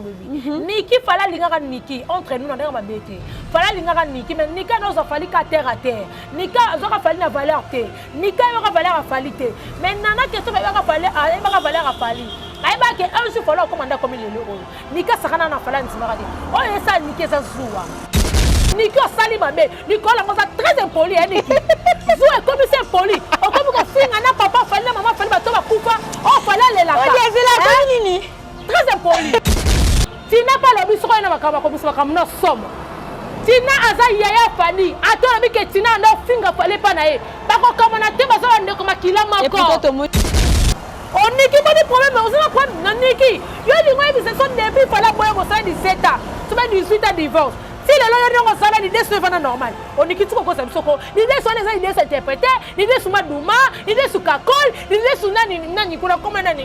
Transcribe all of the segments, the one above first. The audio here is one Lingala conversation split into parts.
olobi mhm. niki fala alingaka niki entre nous na ndenge mabe te fala alingaka niki mais nika na ozwa fali ka terre à terre nika azwaka fali na valeur te nika ayebaka valeur afali te mais nana keso ayebaka fali ayebaka valeur afali ayebaka ke un jour fala okoma nde akomi lelo oyo nika sakana na fala ndimaka te oyo oh, esala niki eza zuwa niki osali mabe likolo yango oza très impoli ya niki zu ekomisi impoli okomi kofinga na papa fali na mama fali bato bakufa oyo oh, fali alelaka eh? nini Très impoli. Tina pa lobi soko na makamba ko bisaka mna somo. Tina aza yaya Fadi. Ato na bike Tina ndo finga fale pa na ye. Bako kama na te bazo ndeko makila mako. Et puis to moni. Oniki moni problème ozana problème na Niki. Yo lingo ebisa so depuis fala boye ko sa 17 ans. Tu mets 18 ans divorce. ti lelo yo ndenge osala lide so efanda normal onikiti kokosa biso ko lide so wana eza lide so interprete lide so maduma lide so kakol lide so nani nani kuna koma nani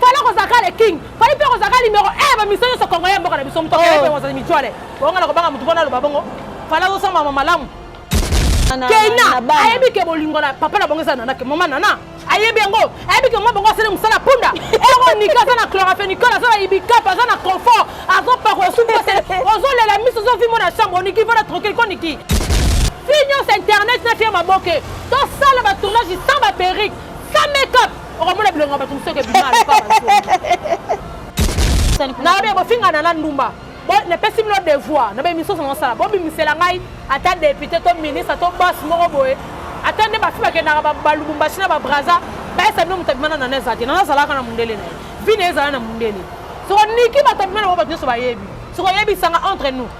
fala kozala kaka le king fali mpe kozala kaka numero e bamiso nyonso kongo ya mboka na biso moto akende oh. kozala mitwale bonga na kobanga motu mpona aloba bongo fala azosambama malamu keina ayebi ke bolingo na papa na bongo eza nana ke mama nana ayebi yango ayebi ke mwa bongo asali mosala punda ero nika aza na cloraphenicol aza na ibicap aza na confort azopakola suki ozolela miso ozovimo na chambre oniki vana tranquille koniki fi nyonso internet na fie maboke tosala batournage sans baperike sans makeup okomona bilongo ya bato mosusu eke bima aloka nayobi bofingana na ndumba napesi bino devoir na bemisusu na mosala bobimisela ngai ata depute to ministre to bos moko boye ata nde bafi bakendaka balubumbashi na babraza bayesa bino moto abima na nana eza te nana azalaka na mondele na ye vi na ye ezala na mondele soko niki bato abima na bango bato nyonso bayebi soko oyebisanga entre nous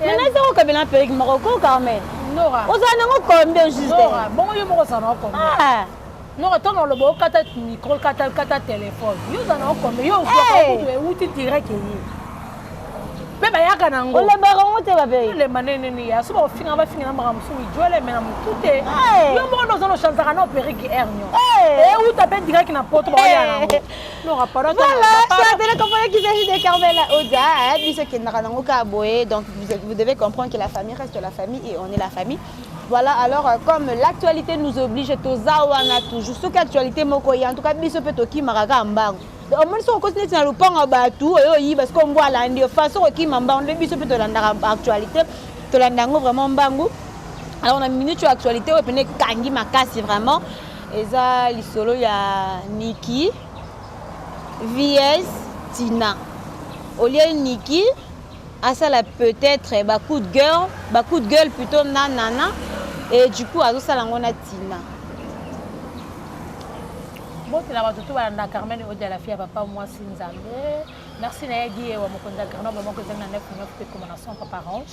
Mais naza ko kabela na perruque moko ko Carmen. Nora. Ozala nango combien juste? Nora, bongo yo moko ozala nango combien? Ah. Nora, to na lobo kata micro, kata kata téléphone. Yo ozala nango combien? Yo ozala kutu euti direct eye. Pe bayaka nango. Olobaka ngo te babe. Olemba nene nene ya so bafinga bafinga na makambo so ijole mais na mutu te. Yo moko ozala ochansaka na perruque ernion. Euta pe direct na poto baoya nango. Voilà, ça donne comprendre qu'il s'agit de Carmela Oda, hein, biso kendaka nango ka boye, donc vous, vous devez comprendre que la famille reste la famille et on est la famille. Voilà, alors euh, comme l'actualité nous oblige, toza wana toujours, soki actualité moko ye, en tout cas biso mpe tokimaka ka mbangu. omoni soki okosi neti na lopango ya bato oyo oyiba sikoyo mbo alandi yo faso okokima mbangu nde biso mpe tolandaka actualité tolanda yango vraiment mbangu alors na minute oyo actualité oyo mpene ekangi makasi vraiment Eza lisolo ya Niki vs Tina. Au lieu Niki asala peut-être ba coup de gueule, ba coup de gueule plutôt na Nana et du coup azosala yango na Tina. Bote na bato to balanda Carmen Odia la fille ya papa mwasi Nzambe. Merci na ye Guy Ewa mokonzi ya Grenoble moko ezali na 9 9 mpe ekoma na 100 papa Range.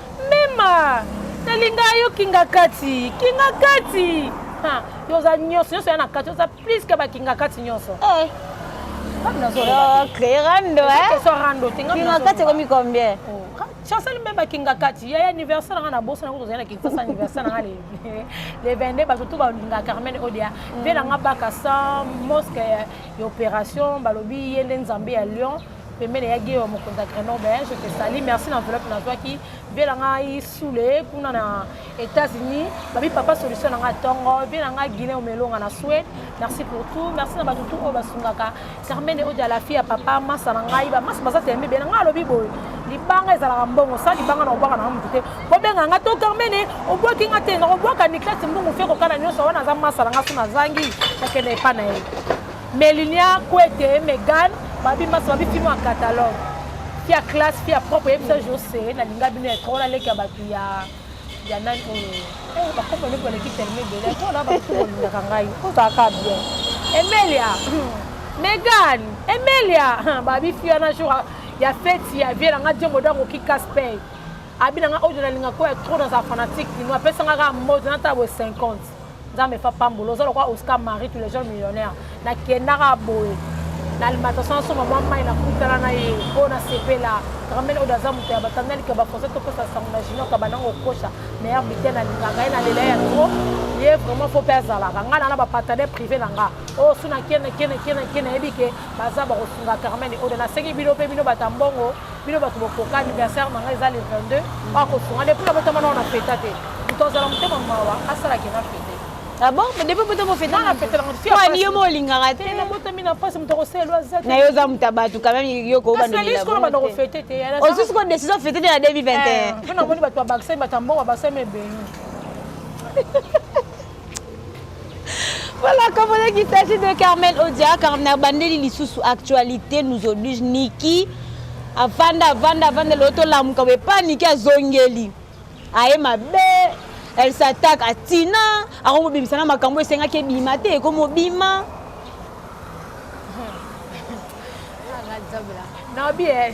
Mema! Nalinga yo kingakati, kingakati! Ha, yo oza nyonso, nyonso ya na kati, oza plus que ba kingakati nyonso. Eh. Créer rando, hein? Question rando, tinga. Kingakati ekomi combien? Oh, chancel mpe bakingakati ya anniversaire nanga na boso nango tozali na kinsasa anniversaire nanga le 22 bato to balinga carmen odia mpe nanga bakasa mosque ya opération balobi ye nde nzambe ya lion pembene ya geo mokonzi ya grenoble hein, je te sali merci na enveloppe nazwaki vie na ngai sule kuna na états-unis babi papa solution na ngai ntongo vie na ngai guinée omelonga na suède merci pour tout merci na bato tout oyo basungaka carmene oyo ya la fille ya papa masa na ngai bamasa baza tembe be na ngai alobi boye libanga ezalaka mbongo sa libanga na kobwaka nanga motu te kobenga nga to carmene obwaki nga te nakobwaka niklas mbongo fe kokana nyonso wana aza masa na nga so nazangi nakende epa na ye Melinia Kwete et Megan babi maso babi film en catalogue. Fia classe, fia propre, yebisa Jose na linga bino ya trop na leki ya batu ya ya nani oyo. Eh ba kopo leki leki tellement belle. Trop na ba kopo lingaka ngai. Oza ka bien. Emelia. Megan, Emelia, babi fia na jour ya fête ya vie na nga Dieu modango ki casse paye. Abi na nga oyo na linga ko ya trop dans sa fanatique, ni mo apesa nga ka mode na tabo 50. nzambe fa pambola oza lokola oscar marie tous les jours millionnaire nakendaka boye na alimentation asomba mwa mai nakutana na ye oyo nasepela ramene oyo aza moto ya batanda lika bafrançais topesa sango na junior kabana ngo kosha meilleur biten nalingaka ye nalela ya tro ye vraiment fo mpe azalaka ngai na na bapartenaire privé na nga oyo su na kene kene kene kene nayebi ke baza bakosunga carmene oyo nasengi bino mpe bino bata mbongo bino bato bokoka anniversaire na ngai eza le 22 bakosunga depuis nabotama nao na feta te moto azala motema mawa asalaki na fete abon ah depo poto mofetani yo molingaka te na yo oza moto ya bato quand même yo kobandomilaosusu ah, ko décision fete te na 2021 namoni bato ya bakisani bato ya mbongo basami ebeli Voilà, comme on dit qu'il s'agit de Carmel Odia, Carmel Bandeli Lissous, actualité nous oblige, Niki, avanda, avanda, avanda, l'auto lamuka, mais pas Niki à Zongeli. Aye ma belle, elle s'attaque à Tina, à Romo Bimisana, ma cambo, c'est un qui est bimaté, comme au bima. nabi eh,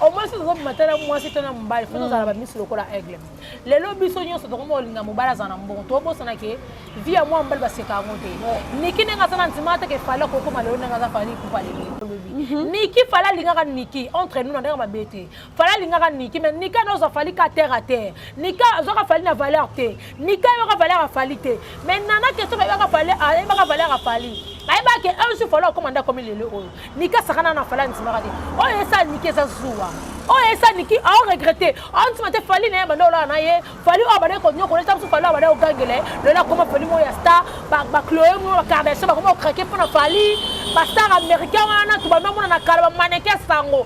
au moins ozobima tala mwasi to na mobali fo tozala bamisi lokola aigle lelo biso nyonso tokoma kolinga mobali azala na mbongo tobosana ke vi ya mwana mobali baseka yango te niki ndenge aza na nzima te ke fali akokoma lelo ndenge aza fali kupa lelo mhm. niki fali alingaka niki entre nous na ndenge mabe te fali alingaka niki mais niki ana ozwa fali ka terre a terre niki azwaka fali na valeur te niki ayebaka valeur ya fali te mais nana ke soki ayebaka valeur ya fali ayebaka ke un jour fali akoma nde akomi lelo oyo nika sakana na fali andimaka te oyo esa niki eza zuwa oyo esa niki ao regrete andima te fali na ye banda olala na ye fali oyo abandaki konyokola eza mosusu fali oyo abandaki kogangela ye lelo akoma fali moko ya star bacloe moko bakardasio bakoma kokrake mpo na fali bastar américain wana tobanda omona na kala bamaneke sango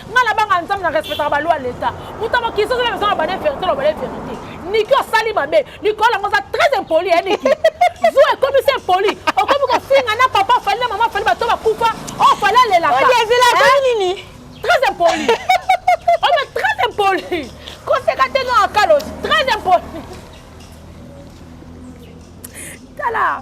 nga na banga nzambe na respectaka balwa leta moto ya mokili soki namezo na bane verité na bane verité niki osali mabe likolo yango oza très impoli ya niki zu ekomisi impoli okomi kofinga na papa fali na mama fali bato bakufa o oh, fali alelakaelelakanini très impoli oza très impoli koseka te nga akalosi très impoli tala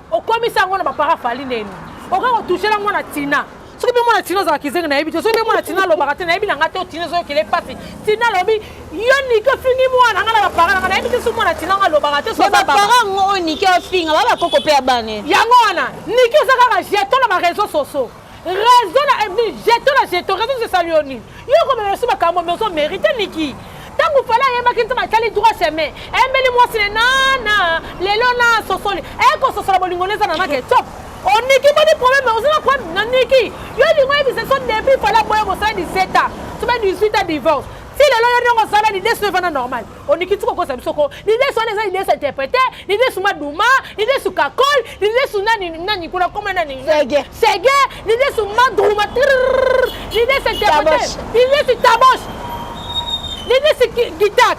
okomisi yango na bapara fali neni okoki kotushela mwana tina soki mpe mwana tina ozala kizengi nayebi te soki mpe mwana tina alobaka te nayebi na ngai te otina ezokele mpasi tina alobi yo niki ofingi mwana ngai na bapara nanga nayebi te soki mwana tina ngo alobaka te bapara yango oyo niki ofinga ba bakoko mpe ya bane yango wana niki oza kaka jeton na bareseau soso raison na ebni eh, jeto na jeto raison zesali yo nini yo komema biso makambo me ozo merite niki ntango fala ayebaki ntina atali droit chemin ayembeli mwasi ne nana lelo na sosoli ekososola eh, bolingo neza na nake top oniki boni problème oza na problème na niki yo lingo yebisa so depuis fala boya mosala 17 ans sobe 18 ans divorce ti lelo yo ndenge ozala lidesu evana normal olingi ti kokosa biso ko lidesu wana eza lidesu interprete lidesu maduma lidesu kakol lidesu nani nani kuna koma nani sege sege lidesu maduma lidesu interprete lidesu tabosh lidesu gita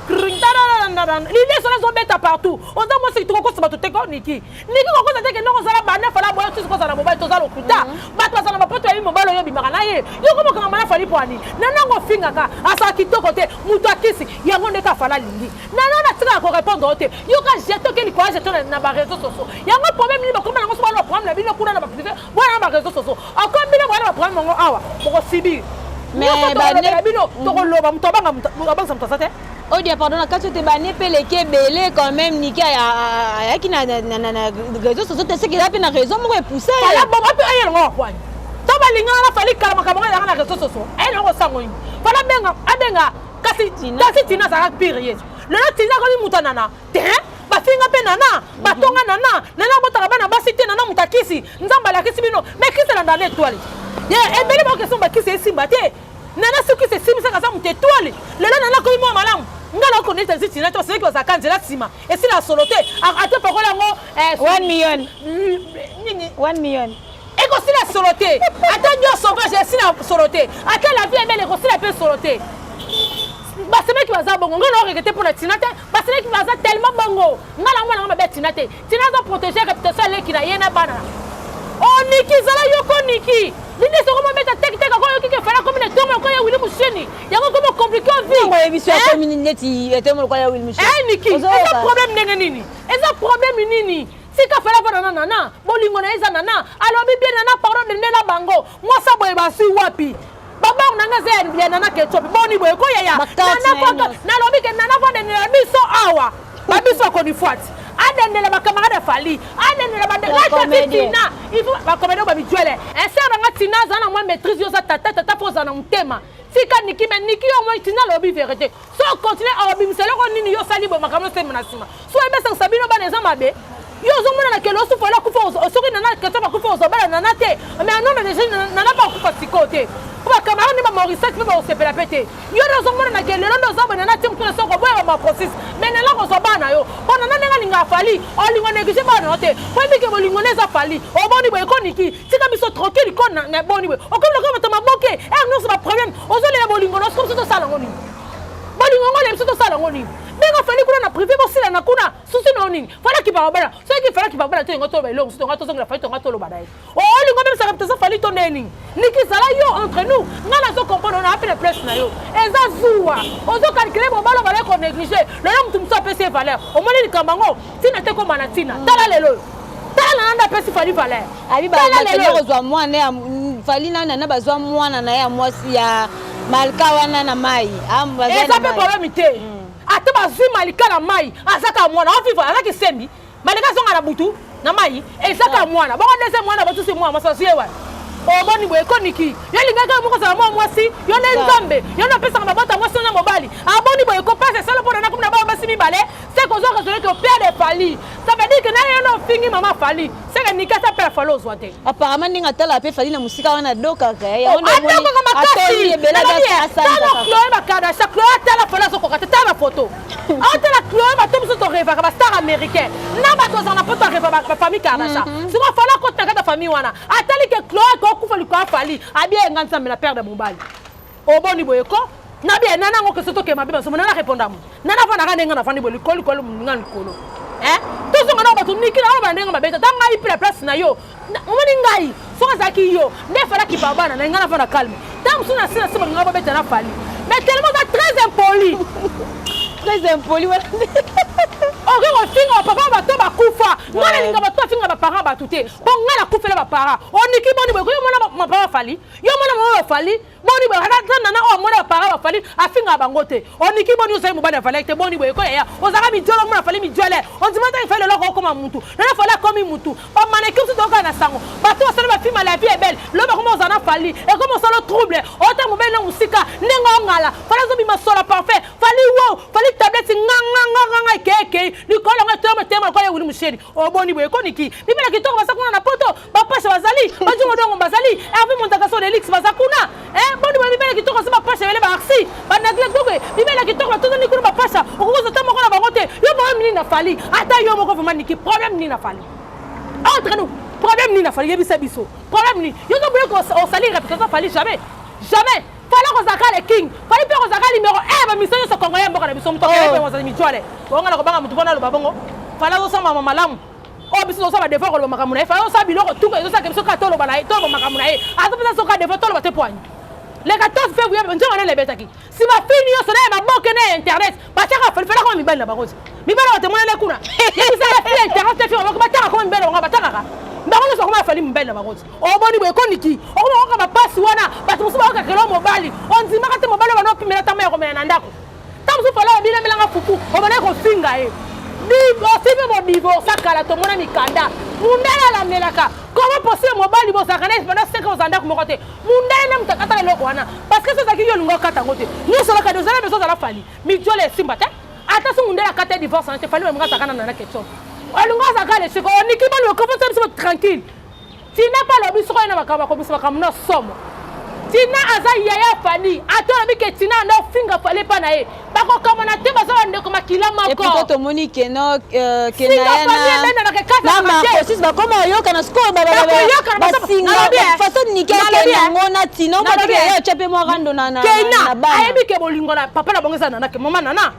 lidesu wana ezobeta partout oza mwasi tokokosa bato te ko niki ndenge kokoza te kende kozala bana fala boye tuzi kozala mobali toza lokuta mhm. bato bazala bapoto yabi mobali oyo obimaka na ye yoko mokanga mana fali pwani nanango ofingaka asala kitoko te moto akisi yango ndeke afala alingi nanana atikaka korepondre yo te yoka jetoke likola jeto na bareseau soso yango problème nini bakoma nango so bana baproblème na bino kuna na baprive bwana na bareseau soso akomi bino bwana baproblème yango awa bokosibir mais bino tokoloba moto abangisa moto aza te Odia pardon na kati te bane pe leki ebele quand même Niki ayaki na réseau sociaux te seki eza pe na réseau moko epousse ala bongo pe aye longo akwani to balingana na fali kala makambo ezalaka na réseau sociaux aye longo sango nini fana abenga abenga kasi kasi tina azalaka pire yesu lelo tina akomi moto anana te bafinga mpe nana batonga nana nana abotaka bana basi te nana moto akisi nzambe alakisi bino mekisi elanda na etoile ye ebele bakestion bakisi esimba te Nana soki se simi saka za moto etwale lelo nana komi mwa malamu nga na ko neta ziti na to seki ozaka nzela sima esila solo te ata pakola yango 1 eh, million nini 1 million ekosila solo te ata ndio sauvage esila solo te ata la vie ebele ekosila mpe solo te basemeki baza bongo ngai naorekete mpo na tina te basemeki baza tellement bongo ngai na mwana nga mabe ya tina te Tina aza proteger reputation ya leki na ye na bana. Oh Niki zala yoko Niki. Nini soko mo beta tek tek ko yoki ke fala comme ne tomo ko ya Willy Mushini. Yango ko mo compliquer vie. Ngo yebi sio ko mini neti etomo ko ya Willy Mushini. Eh Niki, eza problème ndenge nini? Eza problème nini? tika fela mpo nana nana bolingo na ye eza nana alobi bien nana pardon dende na bango mwasi ya boye bazwi wapi babango na nga eza ya nana ketsopi boni boye ko yaya nalobi ke nana kodenela biso awa babiso akonifwati adendela bakamarade fali adendela bandelaati tina bakomedi oyo babijwele eser nanga tina aza na mwa maîtrise yo oza tata tata mpo oza na motema tika niki me niki yo omoi tina alobi verité so okontinue akobimisa eloko nini yo osali boye makambo osembo na nsima so ebesakisa bino bana eza mabe yo ozomona na kelo osufa yo akufa soki nana keto bakufa ozobala nana te mais anome deja nana mpe akufa sikoyo te mpo bacamarade nde bamorisaki mpe bakosepela mpe te yo nde ozomona na kelo lelo nde oza boye nana te mokuna soki oboya bamaprosis mais nana kozwa bana na yo mpo nana ndenge alinga afali olingo neglige bana na yo te mpo ebike bolingo nde eza fali oboni boye ekoniki tika biso tranquille ko na, na boni boye okomi lokola bato maboke ere eh, nyonso baproblème ozolela bolingo na soki biso tosala yango nini bolingo yango olela biso tosala yango nini ndenge ofandi kuna na privé bosilana kuna susi na yo nini falaki bababala soki falaki bababala to yango toloba eloko mosusu tonga tozongela fali tonga toloba na ye olingo oh, obebisaka biso fali to nde nini nikizala yo entre nous ngai nazo comprendre ona apena place na yo eza zuwa ozo calcule mobala obala konéglige lelo motu mosusu apesi ye valeur omoni likambo yango Tina te koma na tina. Tala lelo oyo. Tala na nanda pesi fali valeur. Abi ba lelo kozwa mwana ya fali na nana bazwa mwana na ya mwasi ya malika wana na mai. Ah, Eza pe problème te. Mm. Ata bazwi malika na mai azaka mwana. Ofi valeur azaki sembi. Malika zonga na butu na mai ezaka ah. mwana. Bongo ndese mwana batusi mwana masasi yewa. omoni boye ekoniki yo elingaki yo moko ozala mwa mwasi yo nde nzambe yo nde apesaka mabota mwasi yo na mobali aboni boye kopasa esala mpo na nakomi na bana basi mibale seke ozwa raison ete operde fali ça veut dire que na yo na ofingi mama fali seke nikasi apela fali ozwa te apparemment ndenge atalaka mpe fali na mosika wana adokaka adokaka makasitala chloe bakadasha chloe atala fali azokoka te tala bafoto atala chloe bato mosusu torevaka bastar américain na bato azala na poto areva bafamille kadasha mhm. sikoyo fali akota na kati ya famille wana atali ke chloe akokufa likolo ya fali abieyenga nzambe na perde mobali o boni boye ko na bia nana ngo keso toke mabe basomo nana répondre mo nana fana ka ndenga na fani bo likolo likolo nga likolo eh tozonga na bato niki na ba ndenga mabe ta ngai pila place na yo omoni ngai soki azalaki yo nde falaki babana na ngai na fana calme ntango mosusu na sina sima ngai babeta na fali mais tellement oza très impoli très impoli wana okoki kofinga bapapa ya bato bakufa ngai nalinga bato bafinga baparent bato te mpo ngai nakufela baparent oniki boni boye koyomona mapapa fali yo mwana mama bafali boni boye ata nana oyo amona bapara bafali afingaka bango te oniki boni ozali mobali ya valere te boni boye ko yaya ozalaka mijole omona fali mijole ondima ntango efali leloko okoma mutu nana fali akomi mutu bamaneki mosusu tokaka na sango bato basali bafilma la vie ebele lobi akoma ozala na fali ekomi osolo trouble ota mobali na mosika ndenge ongala fali azobima sola parfait fali wo fali tableti nganganganganga ekei ekei likolo yango etoma etema lokola ewuli mosheni oboni boye koniki bibela kitoko basa kuna na poto bapasha bazali bajongo dongo bazali herve montakasi oyo elix baza kuna eh, boni boye bibele kitoko so bapasha ebele baarsi banagle goge bibele kitoko batondani kuna bapasha okokoza ta moko na bango te yo problème nini na fali ata yo moko vraimen niki problème nini na fali entre ah, nous problème nini na fali yebisa biso problème nini yo toboye osali reputation fali jamais jamais fali kozalaka le king fali mpe kozalaka numero 1 bamiso nyonso kongo ya mboka na biso moto akeeozali oh. mijwale ongana kobanga motu mpona aloba bongo fali azosambama malamu oyo biso tozosala devoir koloba makambo na ye fana osala biloko tuka ezosalaka biso kaka toloba na ye toloba makambo na ye aza mpenza soka devoir toloba te poani le 14 février nzonga nene ebetaki si bafini nyonso na ya baboke na ya internet batiaka falifala koma mibali na bango ti mibali batemona ne kuna yebisaka fi ya internet te fi baboko bataka koma mibali na bango batakaka bango nyonso bakoma afali mibali na bango ti oboni boye ekoniki okoma koka bapasi wana bato mosusu bakokakela mobali ondimaka te mobali wana opimela tama ya komela na ndako ntango mosusu fala obilemelanga fufu obandaki kofinga ye divorce mpe bodivorsa kala tomona mikanda mundele alamelaka koma posile mobali bozalaka na epanda seke ozala ndako moko te mundele nde moto akatala eloko wana parce que sozalaki yo olinga okata yango te nyonso olakadi ozala bezo ozala fali mijole esimba te ata so mundele akata divorce wana te fali olinga azalaka na nana ketshop olinga azalaka lesiko oniki bani okofosa biso tranquille Tina mpe alobi soko ye na makambo akobisa makambo na somo tina aza yaya fali ata olobi ke tina anda ofinga fali epa na ye bakokamana te baza bandeko makila moko tomoni keno euh, kenayanamakosis bakoma oyokana sikoyo basingafaso nikeke yango na tino batya mpe mwa rando na bana ayebi ke bolingo na papa na bango eza nanake mama nana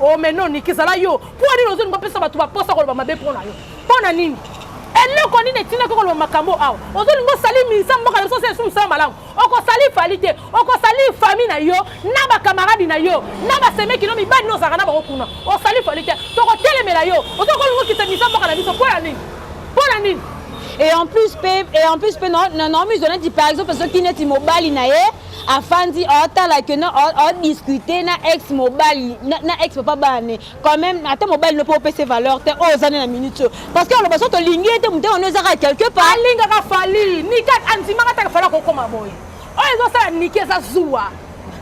Oh mais non Niki zala yo. Pour nini ozo ngopesa batu ba posa koloba mabe pour na yo? Pour na nini? eloko nini etinda koko loba makambo awa ozolinga osali minisa mboka na biso osala esu mosala malamu okosali fali te okosali fami na yo na bakamaradi na yo na basemeki no mibali no ozalaka na bango kuna osali fali te tokotelemela yo ozo kolinga okita minisa mboka na biso mpo ya nini mpo na nini et en plus pe et en plus pe non non non musulman dit par exemple soki neti mobali na ye afandi otala ke na odiscute na ex mobali na ex papa bane quand même ata mobali no mpo opese valeur te oyo ozani na minute oyo parce que aloba so tolingi ye te moto yango ezaka quelque part alingaka fali nikat andimaka taka fali akokoma boye oyo ezosala niki eza zuwa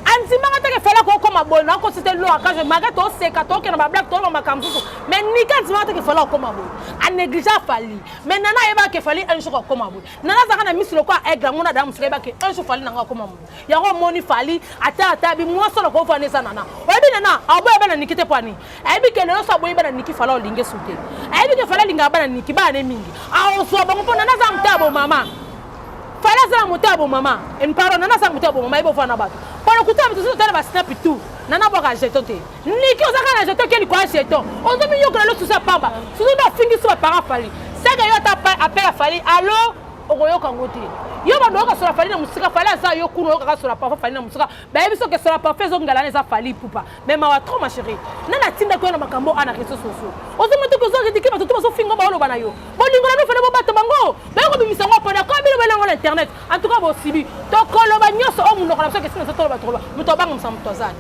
andimaka te kefela kokoma boye nakosi te loakage maka toseka tokenda bablake toloba makambo mosusu mai nika andimaka te kefela kokoma boye anégligea fali mai nana ayebaka kefali un jour akoma boye nana azalaka na miso lokola aigle yango na dana mosika yebaki un jour fali nango akoma moto yango omoni fali ata ata bimwasi oloko ovanda eza nana oyebi nana aboya bana niki te pwani ayebi ke lelo so aboyi bana niki fala olingi esu te ayebi ke fala alingaka bana niki bana ne mingi aozwa bango mpo nana aza moto ya bomama fali aza na moto ya bomama pardon nana aza na moto ya bomama yebi ovanda na bato pona kuta moto ozo tala basnapi tout nana bwaka jeton te niki oza kaka na jeton ke likolo ya jeton ozo miyokola lo susu ya pamba susu nde ofingi so bapara fali seke yo ata apel ya fali alo okoyoka yango te yo bando oyoka sola fali na mosika fali aza yo kuna oyokaka sola parfum fali na mosika bayebi soki sola parfum ezongalana eza fali pupa mais mawa trop ma chérie na natindaki yo na makambo ana réseau sociaux ozomati oki ozoritike bato to bazofinga baoloba na yo bolingo na bino fali bobato bango baye kobimisa yango pona kaka bino balango na internet en tout cas bosibi tokoloba nyonso oyo monoko na biso kesina ezotoloba toloba moto abangamisa moto azali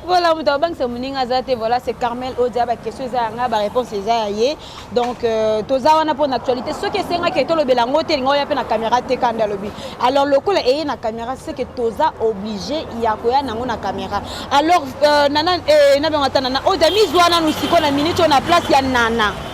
voilà moto abangisa moninga aza te voilà c'est carmel odia baquestion eza yanga baréponse eza ya ye donc euh, toza wana mpo na actualité soki esengaki ete olobela yango te elinga oya mpe na caméra te kanda alobi alors lokola eye na caméra seke toza oblige ya koya nango na caméra alors euh, nana eh, nabengo ata nana odia mizwa nanu sikoyo na minute oyo na place ya nana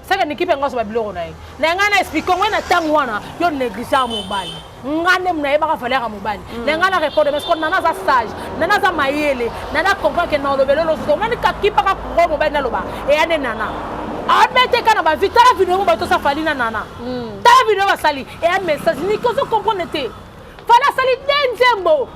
saka na ekipe yango azoba biloko na ye na ngai na explike yango na ntango wana yo neglige ya mobali nga nde nayebaka valeur ya mobali mm. na ngai na repondre parce que nana aza sage nana aza mayele nana comprendre ke na olobeli olosusu omoni kakipaka kuro mobali naloba eya nde nana abeteka na bavi tala video yango bato osafali na nana mm. tala video basali eya message niki ozo comprendre te fana asali te nzembo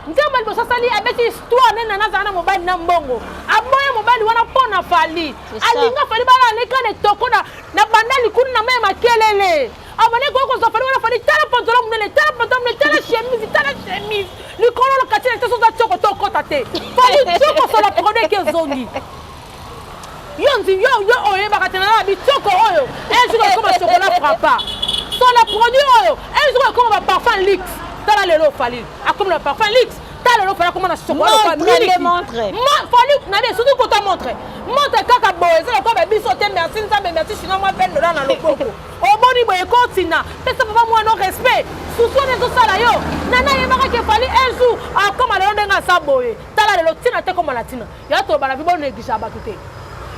nzembo ya liboso asali abeti histoire nde nana azala na mobali na mbongo aboya mobali wana mpo na fali alinga fali balaleka na etoko na banda likulu na mai ya makelele abandaki koya kozwa fali wana fali tala pantola monene tala pantola monene tala chemise tala chemise likolo lokati na te soza tioko to okota te fali tioko sola produit eke ezongi yo nzi yo yo oyebaka te na bitoko oyo un jour ekoma chocolat frappa so na produit oyo un jour ekoma ba parfum lix tala lelo ofali akomi na parfum lix tala lelo ofali akoma na chocolat miliki fali na bien surtout kota montre montre kaka boye eza lokola ba biso te merci nzambe merci chinois mwa peine dola na loboko oboni boye ekotina pesa papa mwana no respect susu wana ezosala yo nana ayebaka ke fali un jour akoma lelo ndenge asa boye tala lelo ntina te koma na ntina ya tobana mpe bonegligea bato te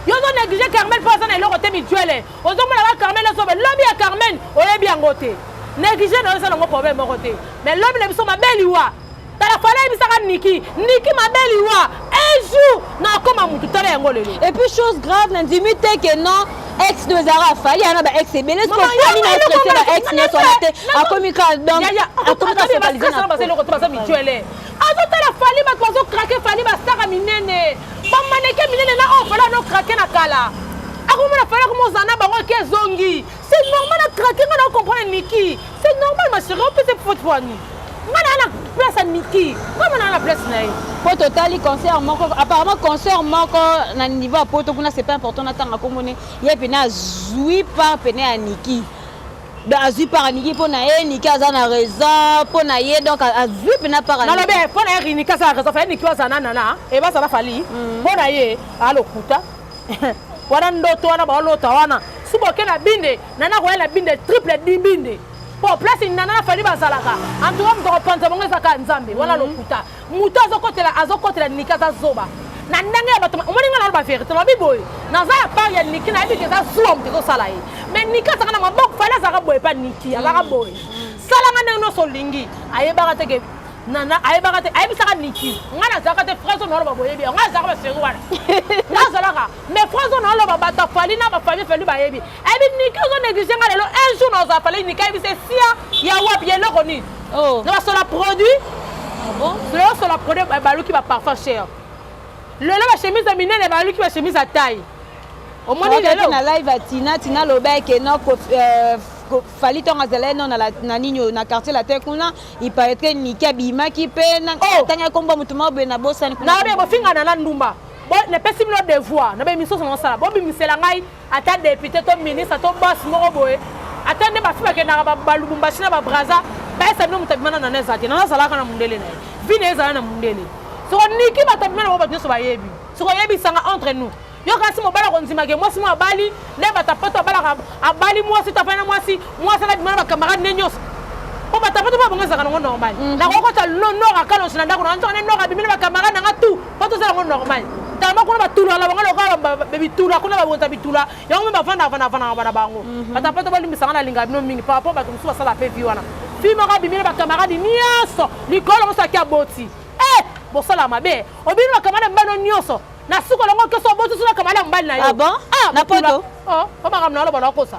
yo ozo neglige carmen mpo aza na eloko te mijuele ozomona ba carmen azobe lobi ya carmen oyebi yango te neglige na yo eza nango problème moko te mais lobi na biso mabe liwa tala fala ayebisaka niki niki mabe liwa un jour nakoma motu tala yango lelo et puis chose grave nandimi te ke non ex no ezalaka afali ana ba ex ebele sokofani na etrete ba ex nyonso wana te akomi ka donc akomi ka focalise na azotala fali bato bazokrake fali basaka minene bamaneke minene na oyo fali anokrake na kala akomona fali akomoza na bango eke ezongi se normal akrake ngai naokomprendre niki se normal maseri opese fote wani ngai naa na place ya niki ngai manaa na place na ye mpo totali concert moko apparemment concert moko na niveau ya poto kuna c'est pas important natanga komone ye pene azwi part pene ya niki donc azwi part ya niki mpo na ye niki aza na raison mpo na ye donc azwi mpena part nalobi mpo na ye riniki aza na raison fa ye niki aza na nana ebaza na fali mpo na ye alokuta wana ndoto wana baolota wana suba oke na binde nana koya na binde triple di binde mpo place nana na fali bazalaka antuka moto akopanza bango ezaka nzambe wana lokuta moto azokotela azokotela niki aza zoba na ndenge ya bato omoni ngai naloba verité lobi boye naza ya part ya niki nayebi ke eza zuwa moto ezosala ye mais niki azaka na maboko fale azaka boye epa niki azaka mm. boye salanga ndenge nyonso olingi ayebaka te ke nana ayebaka te ayebisaka niki ngai nazalaka te fraise oyo naoloba boyebi yango azalaka baseri wana nazalaka mais fraise oyo naoloba bato afali na bafali fali bayebi Ebi eh, niki ozo neglige nga lelo un jour na ozo afale niki ebi se sia ya wapi ya eloko nini. Oh. Na basola produit. Ah bon? Lelo sola produit eh, baluki ba parfum cher. Lelo ba chemise ya minene baluki ba chemise ya taille. Omoni lelo na live ya Tina Tina loba ke no euh, fali ntango azalaki no na nini oyo na quartier latin kuna iparaitre niki abimaki mpe oh! atangaki nkombo motu moko boye na bosani kuna nayobi bofingana na ndumba napesi bino devoir na bemisoso naosala bobimisela ngai ata depute to ministre to bos moko boye ata nde bafi bakendaka balubumbashi na babraza baesa bino moto abimana nana eza te nana azalaka na mondele na ye vi na ye ezala na mondele soko niki bato abimana bango bato nyonso bayebi soko oyebisanga entre nous yo kasi mobali akondimake mwasi mwa abali nde batapato abalaka abali mwasi tafai na mwasi mwasi alabima na bacamarade nde nyonso mpo batapato mwa bango ezalaka nango normal mm. nakokota lo nor akalonso na ndako na nzokande nor abimi na bacamarade nanga tout po toza yango normal tellement kuna batula na bango lokola bitula kuna babonza bitula yango mpe bavandaka vanavandaka bana bango mhm. bata mpo to balimbisanga na linga bino mingi par rapport bato mosusu basala mpe vi wana fi moko abimi na bakamaradi nyonso likolo mosu aki aboti e bosala mabe obimi bakamada mbano nyonso na suka longo keso oboti suna kamada mobali na yo ah ah, na poto oh, makambo na yo loba nakosa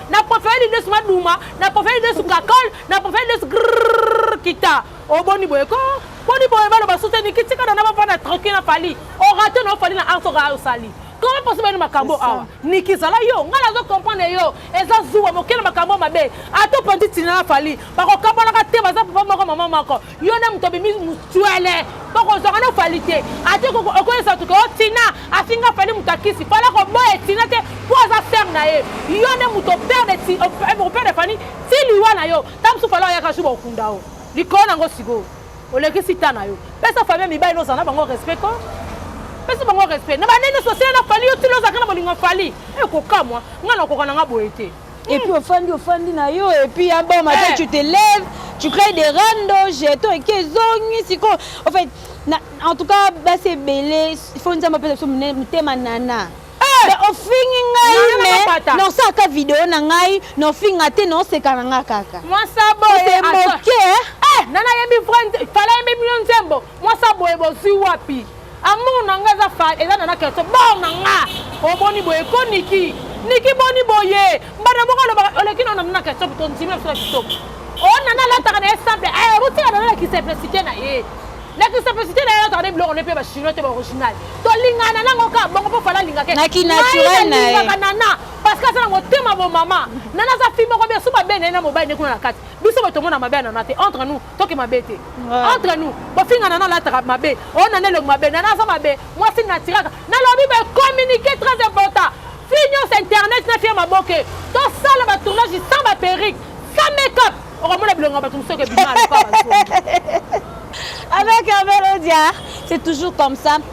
na profere lidesu maduma na profere lidesu kakol na profere lidesu kita oboni boye ko boni boye baloba suteni kitika na na bafana tranquille na fali orate na ofali na arsoka osali koma poso bani makambo awa niki zala yo ngai nazo comprendre yo eza zuwa mokele makambo mabe ata opanzi tina na fali bakokabanaka te baza papa moko mama moko yo nde moto obimi motwele bokozwaka na fali te ate okoyesa tuke o tina afinga fali moto akisi fali akoboya tina te mpo aza sere na ye yo nde moto operde fani ti liwa na yo ta mosusu fali oyaka su bokunda o likolo nango sikoyo olekisi ta na yo pesa famille mibali nozala na bango respect ko pesa bango respect na banene sosele na fali yo ti lozalaka na bolingo fali ekokamwa ngai nakoka na ngai boye te Et puis ofandi ofandi na yo et puis un bon matin eh. tu te lèves, tu crées des rando, jeton et kezongi siko. En fait, na, en tout cas basi ebele il faut nzambe apesa biso motema nana. Eh. ofingi ngai me nosaka video na ngai nofinga te noseka na ngai kaka mwasa boye moke eh, nana yebi vrai fala yebi mino nzembo Mwasa boye bozwi wapi? Amour na nga eza fa eza na na kerso bor na nga oboni boye ko niki niki boni boye mbana moko alobaka oleki na na na kerso to nzimi na biso na kitoko o na na lataka na ye simple eh botika na na ki simplicité na ye na ki simplicité na ye lataka na biloko ne pe ba chinois te ba original to lingana nango ka bongo po fala linga ke na ki naturel na ye na na parce que azala motema bo mama nana aza fille moko bien soki babene ye na mobali nde kuna na kati biso bato omona mabe ya nana te entre nous toke mabe te entre nous bofinga nana alataka mabe o nana elongi mabe nana aza mabe mwasi natiraka nalobi bacommunike très important fi nyonso internet na fi ya maboke tosala batournage sans baperique sans makeup okomona bilongo ya bato mosusu eke bima aloka bazongi avec un melodie c'est toujours comme ça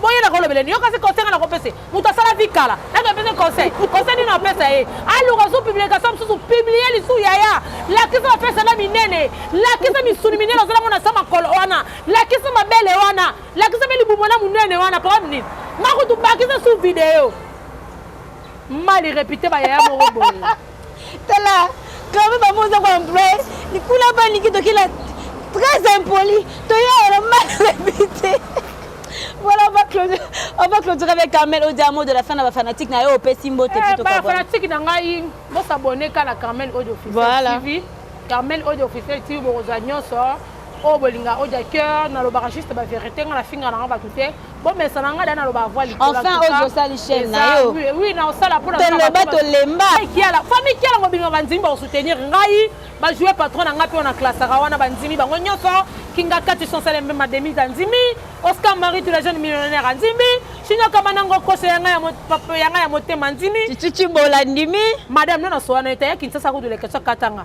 boye na kolobela ni yokasi conseil nga na kopese moto asala vi kala nake pese conseil conseil nini apesa ye aluka zu publication mosusu publie lisu yaya lakisa bafese na minene lakisa misuni minene ozolango na sa makolo wana lakisa mabele wana lakisa mpe libumo na monene wana problème nini makutu bakisa su video mal repite bayaya moko boye Tala, kama ba moza ko employer, ni kula ba ni kito kila très impoli, to ya la mal répété. Voilà, on va clôturer, on va clôturer avec Carmel Odia, mot de la fin de la fanatique na yo opesi mbote eh, plutôt ka. Ba fanatique na ngai, bo s'abonner ka na Carmel Odia officiel voilà. TV. Carmel Odia officiel TV bo za nyoso. oyo bolinga oja cœur nalobaka juste bavérité ngai nafinga nanga bato te bomesana ngai da naloba avwa likolo enfin ozo osali chaîne na yo oui na osala pona toloba tolemba kiala famille kiala mobimba bandimi bakosoutenir ngai bajoue patron na ngai mpe wana klasaka wana bandimi bango nyonso kinga kati sonsale mpe mademise andimi oscar marie tout la jeune millionnaire andimi shinokama nango koso ya ngai ya motema andimi cici bolandi mi madame nanasowana etaya kinsasa kudulekesa katanga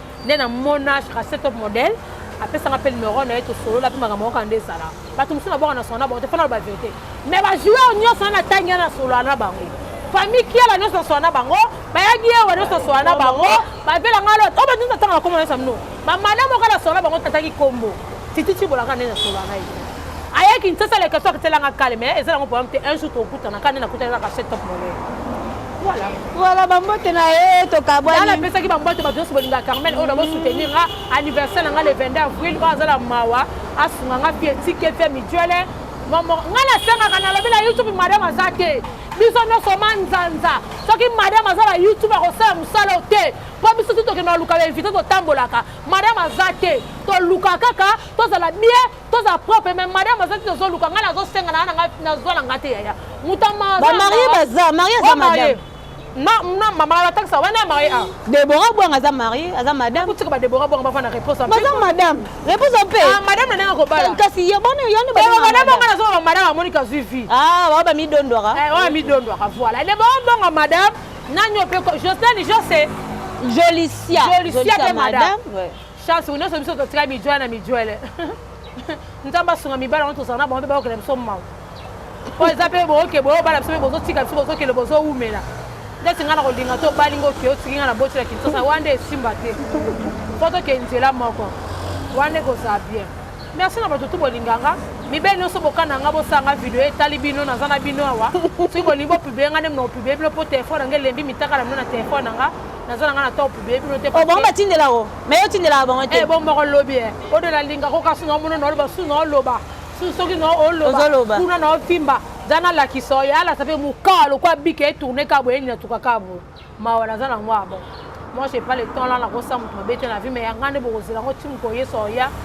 nde na mona chase top modèle apesaka mpe numero na ye tosolola mpe makambo moko nde ezala bato mosusu nabwaka na solo na bango te mpo na loba verité mais bajoueur nyonso wana natangi ya na solola na bango famille kiela nyonso nasola na bango bayaki ewa nyonso nasola na bango bavela ngai lote oyo bato nyonso atanga na kombo na yesu amino bamada moko nasola na bango tataki kombo tititi bolaka nde nasola na ye aya kinshasa leke soki telanga kale mais eza nango problème te un jour tokutana kani nakutana kaka chez top monnaie voilà voilà bambote na ye tokabwana napesaki bambote bato nyonso bolinga carmel oyo nabo soutenir nga anniversaire na nga le 22 avril oyo aza na mawa asunga nga pie tike pie mijuele momo nga nasengaka nalobi na youtube madame aza te biso nyonso manzanza soki madame aza na youtube akosala mosala oyo te mpo biso ti tokende na luka bainvite totambolaka madame aza te toluka kaka tozala bien toza propre mais madame azaki tozoluka ngai nazosenga na nanga nazwa na ngai te yaya mutamarie baza marie aza madame mama batangisa wana marie a debora bwanga aza marie aza madame kutika badebora bwanga bafa na réponse baza madame réponse mpe ah, madame na ndenge akobala kasi yabona yani madame anga nazoma bamadame amoni kazwi vie ah, bao bamidondwaka eh, oyo midondwaka voilà debora bwanga madame nani ope josene jose jolicia jolicia mpe madame chance nyonso biso totika mijwele na mijwele nzambe asunga mibala wana tozala na bango mpe bayokela biso mawa mpo eza mpe boyoke boyobala biso mpe bozotika biso bozokele bozowumela ndeti ngai na kolinga to obali ngo oke otiki ngai na boti na kinsosa wana nde esimba te mpo toke nzela moko wana nde kozala bien merci na bato tu bolinganga mibele nyonso bokana nga bosanga video etali bino naza na bino awa soki bolingi bopiblie nga nde mna opiblie bino mpo telefone na nga elembi mitaka na bino na telefone na nga naza na nga na top boye bino te oh, bango batindela o me yo otindelaka bango te eh, bo moko lobi e odo nalingaka okasi na omona naoloba su na oloba su soki na oloba kuna na ofimba za nalakisa oyo alasa mpe mokaa lokola bika etourne ka boye nini natuka ka boye mawa naza na yango abo moi j'ai pas le temps la nakosa moto mabe te na vie me ya ngai nde bokozela yango ti moto yesu oya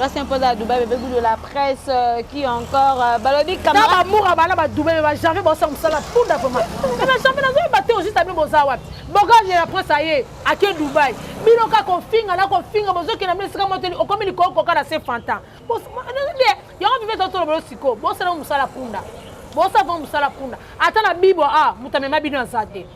Reste un peu à Dubaï, bébé goût de la presse, euh, qui encore euh, Balobi Kamara. Naba Moura bana ba Dubaï, ba jamais bossa musala punda vraiment. Mais na jamais nazo battre juste à boza wapi. Bogage la presse aye, à que Dubaï. Bino ka ko finga na ko finga bozo ke na mesi kama teli okomi li ko ko kana se fanta. Bossa bien, yo on vivait autour de siko, bossa na musala punda. Bossa va musala punda. Ata na bibo ah, mutamema bino azate.